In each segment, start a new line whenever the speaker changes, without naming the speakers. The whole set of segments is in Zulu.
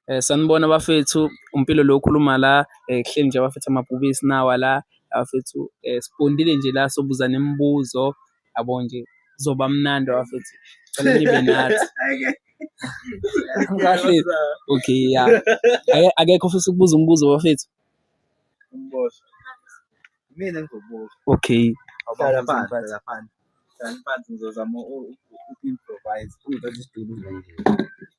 Eh, sanibona bafethu umpilo lo okhuluma la eh, kuhleli nje abafethu amabhubesi nawa la abafethu eh, sibondile nje la sobuza nemibuzo yabo nje kuzoba mnandi abafethu cela nibe nathi kahle okay ya Ake- akekho ofisa ukubuza umbuzo bafethu Umbozo.
Mina ngizobuza.
okay Hlala
phansi, hlala phansi. Hlala phansi ngizozama u- u- u-improvise. Ungithatha isitulo nje.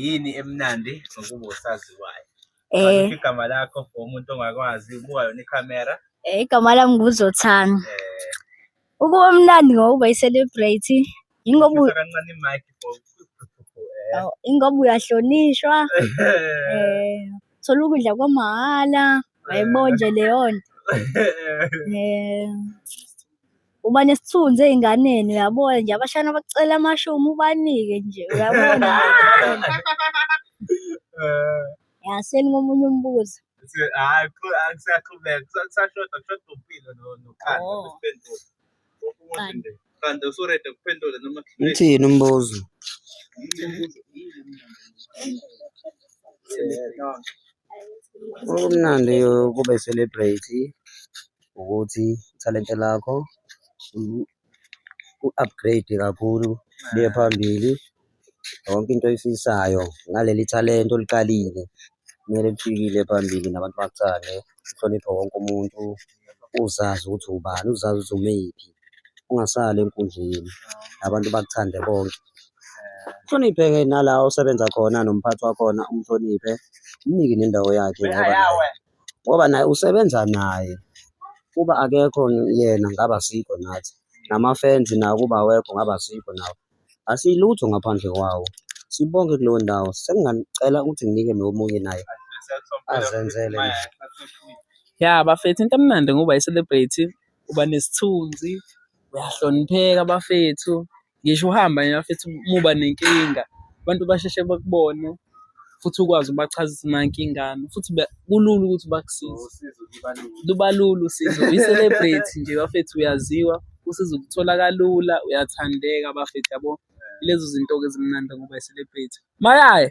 yini emnandi ngokuba usaziwayo eh igama lakho for umuntu ongakwazi ubuka yona ikhamera eh igama lami
nguzothana eh ukuba mnandi ngokuba i-celebrate yingoba kancane imic
for eh.
ingoba uyahlonishwa eh thola ukudla kwamahhala wayibonje leyo nto eh uba nesithunzi ey'nganeni uyabona nje abashana bacela amashomu ubanike nje uyabona Eh, ya seningomunye umbuzo si- hhayi, qhu-
ah, kusaqhubeka kusa- kusashoda kushoda umpilo no- nokhanda Oh. besiphendule Wonke umuntu Qanda. nje. khanda usurede
kuphendula noma kuhluleka. Uthini umbuzo? Okumnandi ukube celebrate ukuthi ithalente lakho u-upgrade kakhulu liye phambili yonke into oyifisayo ngaleli thalente oliqalile kumele lifikile phambili nabantu bakuthande uhloniphe wonke umuntu uzazi ukuthi ubani uzazi ukuthi umephi ungasali enkundleni abantu bakuthande bonke hloniphe-ke nala osebenza khona nomphathi wakhona umhloniphe umnike nendawo yakhe ngoba ngoba naye usebenza naye kuba akekho yena ngaba sikho nathi nama-fans nawo kuba awekho ngaba sikho nawo asilutho ngaphandle kwawo sibonke kuleyo ndawo sengingacela ukuthi nginike nomunye naye azenzele
ya bafethu into emnandi ngoba yi-celebrity uba nesithunzi uyahlonipheka bafethu Ngisho uhamba nje bafethu uma uba nenkinga abantu basheshe bakubone futhi ukwazi ubachazisa nankingana futhi ba- kulula ukuthi bakusize. Usizo libalula. Luba lula usizo, uyi-celebrity nje bafethu uyaziwa, usizo ukuthola kalula, uyathandeka bafethu yabo. Ilezo zinto-ke ezimnandi ngoba yi-celebrity. Mayaya!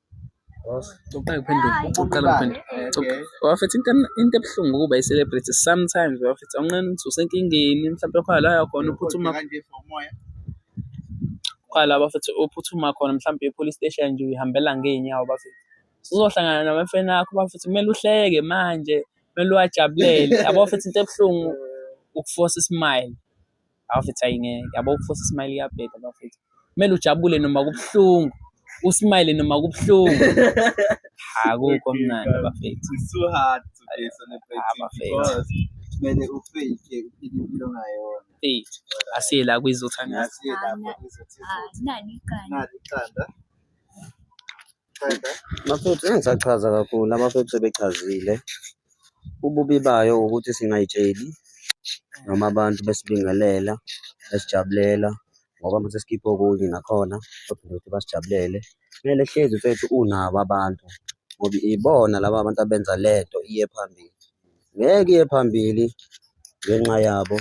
Uqala kuphendula, uqala kuphendula. Wafethu into into ebuhlungu ukuba i-celebrity sometimes wafethu awunqeni ukuthi usenkingeni mhlawumbe khona la yakhona uphuthuma khona la bafethu uphuthuma khona mhlawumbe e-police station nje uyihambela ngey'nyawo bafethu. Uzohlangana namafreni akho bafethu kumele uhleke manje, kumele uwajabulele yabo bafethu into ebuhlungu ukufosa i-smile. Abafethu ayi ngeke. Yabo ukufosa ismile iyabheda abafethu. Kumele ujabule noma kubuhlungu. Usmile noma kubuhlungu. Akukho mnandi abafethu. It's so hard to
be a celebrity Abafethu. because
kumele
ufake uphile impilo ngayona. Fethu. Asiye
la kwizothandaza. Ngasiye lapho
izothi Ah, nani iqanda. nali
iqanda.
Bafethu engisachaza kakhulu abafethu sebechazile ububi bayo ukuthi singayitsheli noma abantu besibingelela besijabulela ngoba mase sikhiphe okunye nakhona kodwa ukuthi basijabulele kumele hlezi mfethu unabo abantu ngoba ibona laba bantu abenza lento iye phambili ngeke iye phambili ngenxa yabo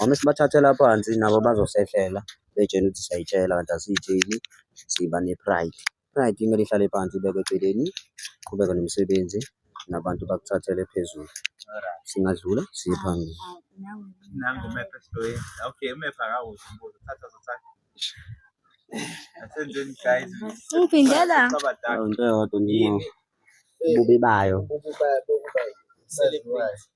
Uma sibathathela phansi nabo bazosehlela betshela ukuthi siyayitshela kanti asiyitsheli siba ne-pride. Pride kumele ihlale phansi ibekwe eceleni, qhubeke nomsebenzi nabantu bakuthathele phezulu. Singadlula siye phambili. Nangu
umepha esiloyeni. Okay, umepha akawuzi umbuzo. Thatha zothatha.
Asenzeni guys. Uphindela. Abadala.
Into eyodwa nje ububi
bayo.
Ububi bayo bokuba yi-celebrity.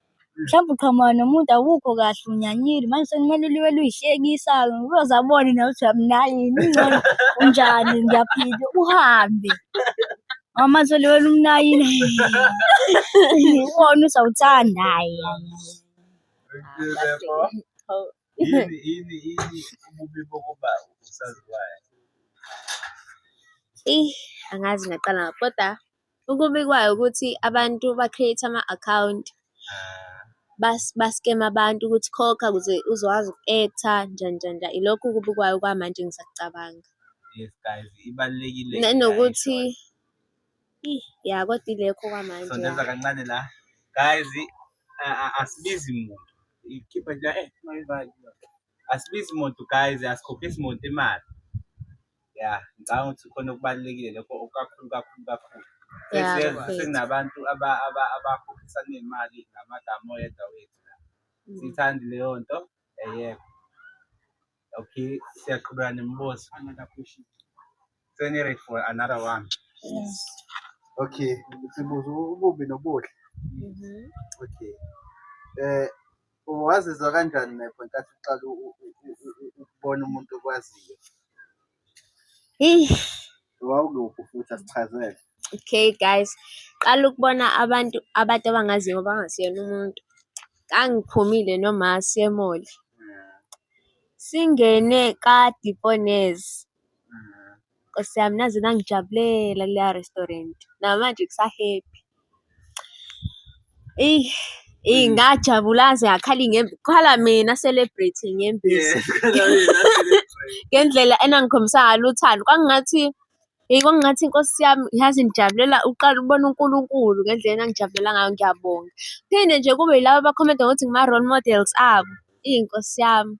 Mhlawumbe uqhamuka nomuntu awukho kahle unyanyile manje sekumele uliwe luyihlekisa-ke uyoze abone nawe ukuthi uyamnayini ingcono unjani ngiyaphila uhambe ngoba manje uliwe lumnayini uwona uzawuthanda hhayi Yini yini yini
ububi bokuba usaziwayo?
Eyi, angazi ngaqala ngaphi kodwa Okubikwayo ukuthi abantu ba-create ama-account baskema abantu ukuthi khokha ukuze uzokwazi uku-act-a njani njani njani. Ilokho okubikwayo okwamanje engisakucabanga. Yes guys,
ibalulekile. Nanokuthi
ya kodwa ilekho okwamanje. Soneza kancane la.
Guys, asibizi muntu. Ikhipha nje eh mayivali. asibizi muntu guys asikhokhisi muntu imali ya ngicabanga ukuthi khona okubalulekile lokho kakhulu kakhulu kakhulu sekunabantu abakhokhisa nemali ngamagama oyedwa wethu mm. siyithandi leyo nto eyekho okay siyaqhubeka nemibuzo seniready for another one yes.
okay
sibuza ububi nobuhle mm-hmm. okay um Wazizwa kanjani Nepho nkathi uqala ukubona umuntu okwaziyo? Wawukuphi futhi asichazele. Okay guys,
qala ukubona abantu abantu abangaziyo abangasiyena umuntu. Ngangiphumile noma siyemoli. Singene ka-Diponez. Nkosi yami naze nangijabulela kuleya restaurant. Namanje kusa-happy. Eyi, eyi Mm. ngajabula aze akhala ingembe. Kukhala mina celebrate inyembezi. Ngendlela enangikhombisa ngalo uthando. Kwakungathi eyi kwakungathi Nkosi yami yazi ngijabulela uqala ubona uNkulunkulu ngendlela enangijabulela ngayo ngiyabonga. Phinde nje kube yilaba abakhomenta ngokuthi ngima-role models abo. Eyi Nkosi yami.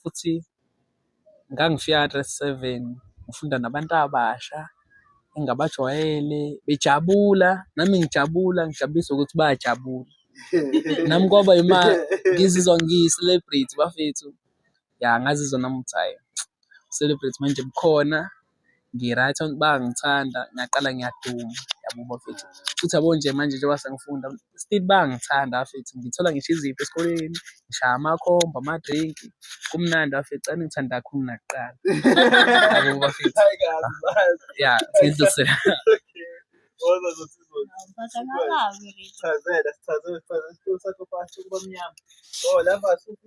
futhi ngangifika ka-grade seven ngifunda nabantu abasha engabajwayele bejabula nami ngijabula ngijabulisa ukuthi bayajabula nami kwaba yima ngizizwa ngiyi-celebrity bafethu ya ngazizwa nami ukuthi hhayi celebrity manje bukhona ngi-right bayangithanda ngiyaqala ngiyaduma yabo bafethu futhi yabo nje manje njengoba sengifunda still bayangithanda bafethu ngithola ngisho izipho esikoleni ngishaya amakhomba ama-drink kumnandi bafethu cani ngithanda kakhulu nakuqala yabo bafethu ya sidlusela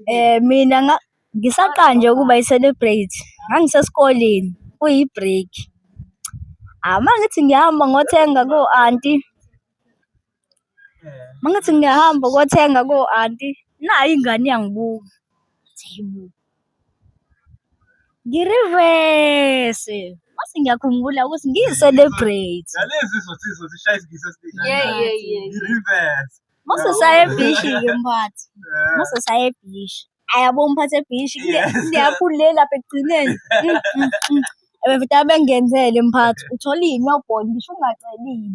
Eh mina nga Ngisaqanje ukuba i-celebrate ngangisesikoleni kuyi-break. Hhayi uma ngithi ngiyahamba ngothenga ko-anti, uma ngithi ngiyahamba ukothenga ko-anti, nayo ingane iyangibuka. Ithi, "Hhayi bo." Ngirivese, mase ngiyakhumbula ukuthi ngiyi-celebrate. Nalezi zothi zozishaya isingisi esiningi. Yeah, yeah, yeah. I-reverse. Mase saya ebhishi-ke mphathi, mase saya ebhishi. ayabo umphathe bhishi niyaphulela lapha ekugcineni mm, mm, mm. befite abengenzele mphathi uthola yini yobhona ngisho ungacelile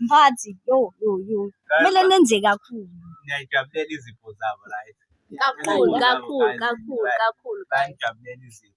mphathi yo yo yo kumele nenze kakhulu ngiyayijabulela
izipho zabo right kakhulu
kakhulu kakhulu kakhulu
ngiyayijabulela izipho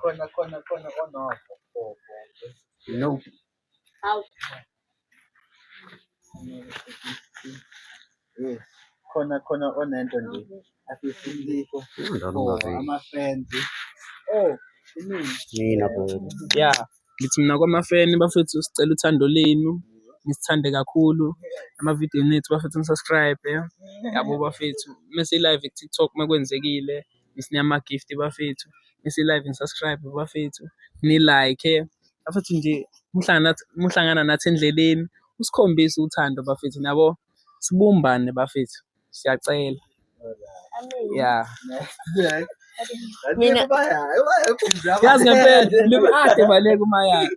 khona khona khona onofo no hawu
yes khona khona onento nje afisiliko
amafenzi
oh
mina bo ya
ngithi mina kwamafeni bafethu sicela uthando lenu nisithande kakhulu amavidiyo nethu bafethu nisubscribe yabo bafethu mese live ku-tiktok makwenzekile Miss Niyama Gift bafethu. Miss Live and subscribe bafethu. Ni like. Bafethu nje muhlangana muhlangana nathi endleleni. Usikhombisa uthando bafethu nabo. Sibumbane bafethu. Siyacela. Yeah.
Mina
yazi ngempela libe ade baleka umayakhe.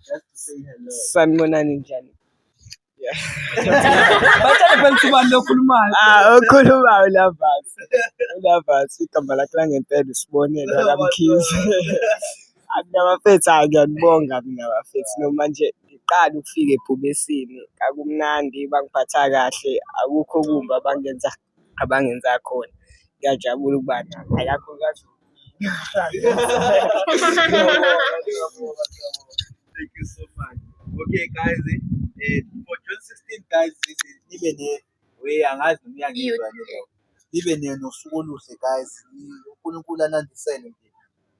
Just to say hello. Sanibonani njani?
Yeah.
Batshale phela ukuthi ubani lokhulumayo. Ah, okhulumayo
uLavas. uLavas igama lakhe langempela usibonelo akamkhizi. Akunabafethu hayi ngiyanibonga mina bafethu noma nje ngiqala ukufika ebhubesini kakumnandi bangiphatha kahle akukho kumbi abangenza abangenza khona ngiyajabula ukuba nabo akakhulukazi Thank you
so much. Okay, guys, eh, eh, for June 16, guys, this is nibe ne we angazi noma uyangizwa nje. Nibe ne nosuku oluhle guys. uNkulunkulu anandisele nje.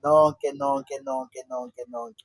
Nonke nonke nonke nonke nonke.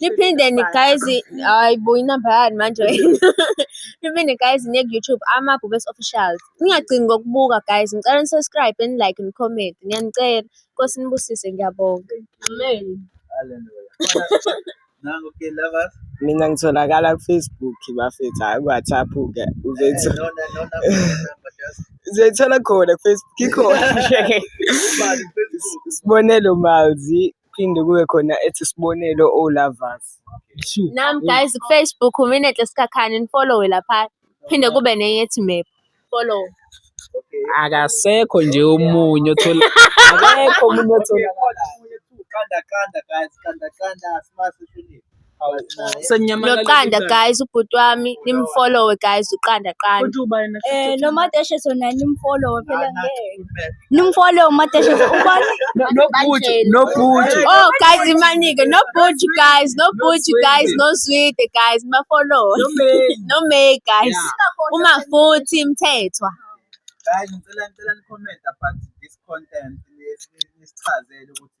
niphinde nigayezi hayi bo inamba yani manje niphinde gayezi niye ku-youtube amabhubesi officials ningagcini ngokubuka guys ngicela nisubscribe nilike nicomment ngiyanicela nkosi nibusise ngiyabonga amen
mina ngitholakala
kufacebook bafethu hhayi kuwhatsapp-ke uzoyithola khona kufacebook ikhona sibonelo malzi phinde kube khona ethi sibonelo o lovers nam
guys kufacebook uminenhle sikhakhani nifollowe lapha phinde kube nenye ethi map follow
akasekho nje omunye othola akekho omunye othola kanda
kanda guys kanda kanda simase
noqanda guys ubhuti wami nimfolowe guys uqanda qanda eh
nomadeshe sona nimfolowe phela ngeke nimfolowe umadeshe ubani nobhuti
nobhuti oh guys imanike
nobhuti guys nobhuti guys nozwide guys mafolowe no me guys uma futhi mthethwa guys
ngicela ngicela ni comment about this content nisichazele ukuthi